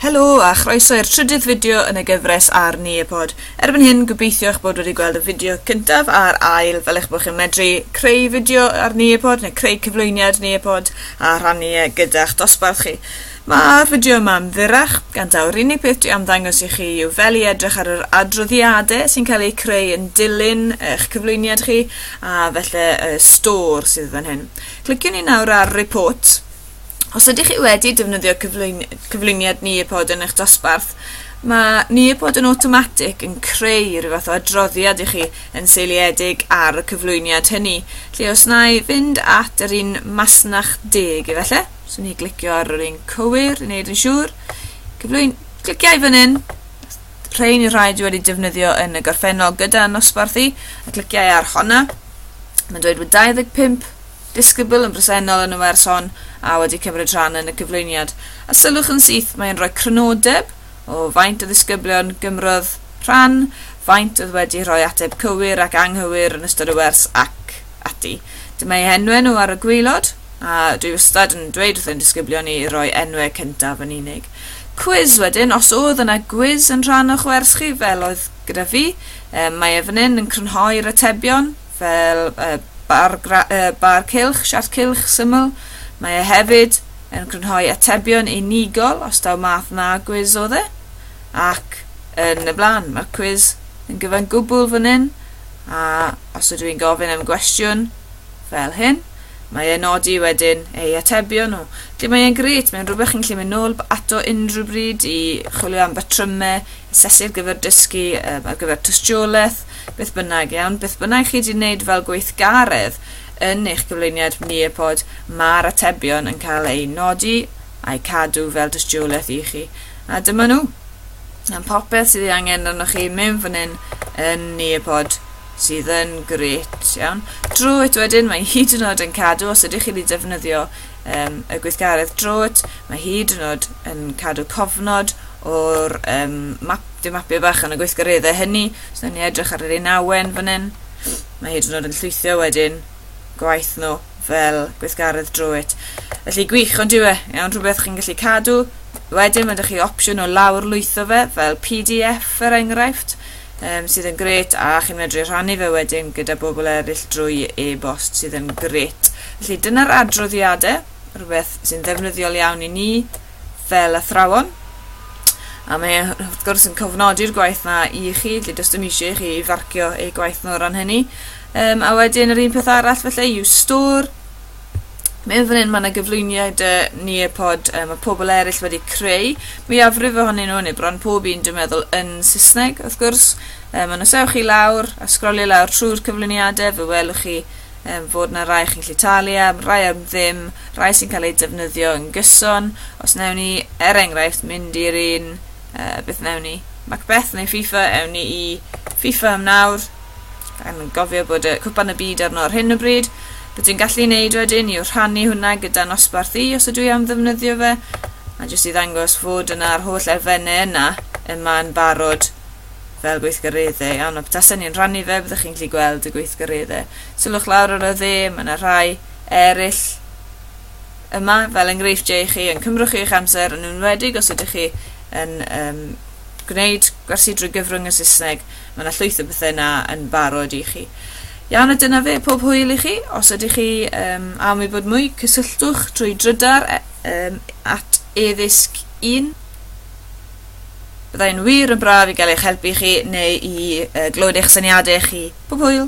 Helo a chroeso i'r trydydd fideo yn y gyfres ar Nearpod. Erbyn hyn, gobeithio eich bod wedi gweld y fideo cyntaf a'r ail fel eich bod chi'n medru creu fideo ar Nearpod neu creu cyflwyniad Nearpod a rhannu e gyda'ch dosbarth chi. Mae'r fideo yma yn fyrrach, gan daw'r unig peth dwi am ddangos i chi yw fel i edrych ar yr adroddiadau sy'n cael eu creu yn dilyn eich cyflwyniad chi a felly y stor sydd fan hyn. Cliciwn ni nawr ar Report Os ydych chi wedi defnyddio cyflwyni cyflwyniad Nearpod yn eich dosbarth, mae Nearpod yn awtomatig yn creu rhyw fath o adroddiad i chi yn seiliedig ar y cyflwyniad hynny. Lle os na i fynd at yr un masnach deg i felly, swn i glicio ar yr un cywir i wneud yn siŵr. Cyflwyn, cliciau fan hyn, rhain yw'r rhai dwi wedi defnyddio yn y gorffennol gyda nosbarth i, a cliciau ar honna. Mae'n dweud bod 25 Disgybl yn bresennol yn y wers hon a wedi cymryd rhan yn y cyflwyniad, a sylwch yn syth, mae e'n rhoi crynodeb o faint o ddisgyblion gymrodd rhan, faint oedd wedi rhoi ateb cywir ac anghywir yn ystod y wers ac ati. Dyma eu henwau nhw ar y gwaelod, a dwi wastad yn dweud wrth ein disgyblion ni roi enwau cyntaf yn unig. Cwis wedyn, os oedd yna gwiz yn rhan o'ch wers chi fel oedd gyda fi, mae e fan hyn yn crynhoi'r atebion. fel y bar, y bar cylch, siart cylch syml. Mae e hefyd yn crynhoi atebion unigol os daw math na gwiz o dde, ac yn y blaen. Mae'r cwiz yn gyfan gwbl fan hyn, a os ydw i'n gofyn am gwestiwn fel hyn, mae e'n nodi wedyn ei atebion nhw. Felly mae e'n gret, mae'n rhywbeth chi'n gallu mynd nôl ato unrhyw bryd i chwilio am batrymau, sesi'r gyfer dysgu um, ar gyfer tystiolaeth, beth bynnag, iawn, beth bynnag chi wedi wneud fel gweithgaredd yn eich gyflwyniad Nearpod, mae'r atebion yn cael eu nodi a'i cadw fel dystiolaeth i chi. A dyma nhw. Am popeth sydd ei angen arnoch chi, mewn fan hyn yn Nearpod sydd yn gret, iawn. Drwy eto wedyn, mae hyd yn oed yn cadw, os ydych chi wedi defnyddio um, y gweithgaredd drwt, mae hyd yn oed yn cadw cofnod o'r um, map, dim mapiau bach yn y gweithgareddau hynny. Os so, ni edrych ar yr un awen fan hyn, mae hyd yn oed yn llwythio wedyn gwaith nhw fel gweithgaredd drwt. Felly gwych, ond yw e, iawn, rhywbeth chi'n gallu cadw. Wedyn mae ydych chi opsiwn o lawr lwytho fe fel PDF er enghraifft. um, sydd yn gret a chi'n medru rhannu fe wedyn gyda bobl eraill drwy e-bost sydd yn gret. Felly dyna'r adroddiadau, rhywbeth sy'n ddefnyddiol iawn i ni fel athrawon. A mae wrth gwrs yn cofnodi'r gwaith na i chi, lle does dim eisiau i chi farcio eu gwaith nhw o ran hynny. Um, a wedyn yr un peth arall felly yw store, Meddwl fan 'yn ma' 'na gyflwyniad yy Nearpod yy ma' pobl eryll wedi creu mwyafrif ohonyn nhw neu bron pob un dwi'n meddwl yn Saesneg wrth gwrs yym ond os ewch chi lawr a sgrolio lawr trwy'r cyflwyniadau fe welwch chi yym fod 'na rai chi'n gallu talu am, rai am ddim, rai sy'n cael eu defnyddio yn gyson. Os newn ni er enghraifft mynd i'r un yy beth newn ni? Macbeth neu FIFA ewn ni i FIFA am nawr. Yn gofio bod y cwpan y byd arno ar hyn o bryd. Beth dwi'n gallu wneud wedyn yw rhannu hwnna gyda nosbarth i os ydw i am ddefnyddio fe. A jyst i ddangos fod yna'r holl elfennau yna yma yn barod fel gweithgareddau. Iawn, a petasen ni'n rhannu fe, byddwch chi'n gallu gweld y gweithgareddau. Sylwch lawr ar y dde, mae yna rhai eraill yma fel enghreifftiau i chi yn cymrwch chi eich amser yn enwedig os ydych chi yn um, gwneud gwersi drwy gyfrwng y Saesneg Mae yna llwyth o bethau yna yn barod i chi. Iawn, a dyna fe, pob hwyl i chi. Os ydych chi um, am ei bod mwy, cysylltwch drwy drydar um, at eddysg 1. Byddai'n wir yn braf i gael eich helpu chi neu i uh, glywed eich syniadau chi. Pob hwyl!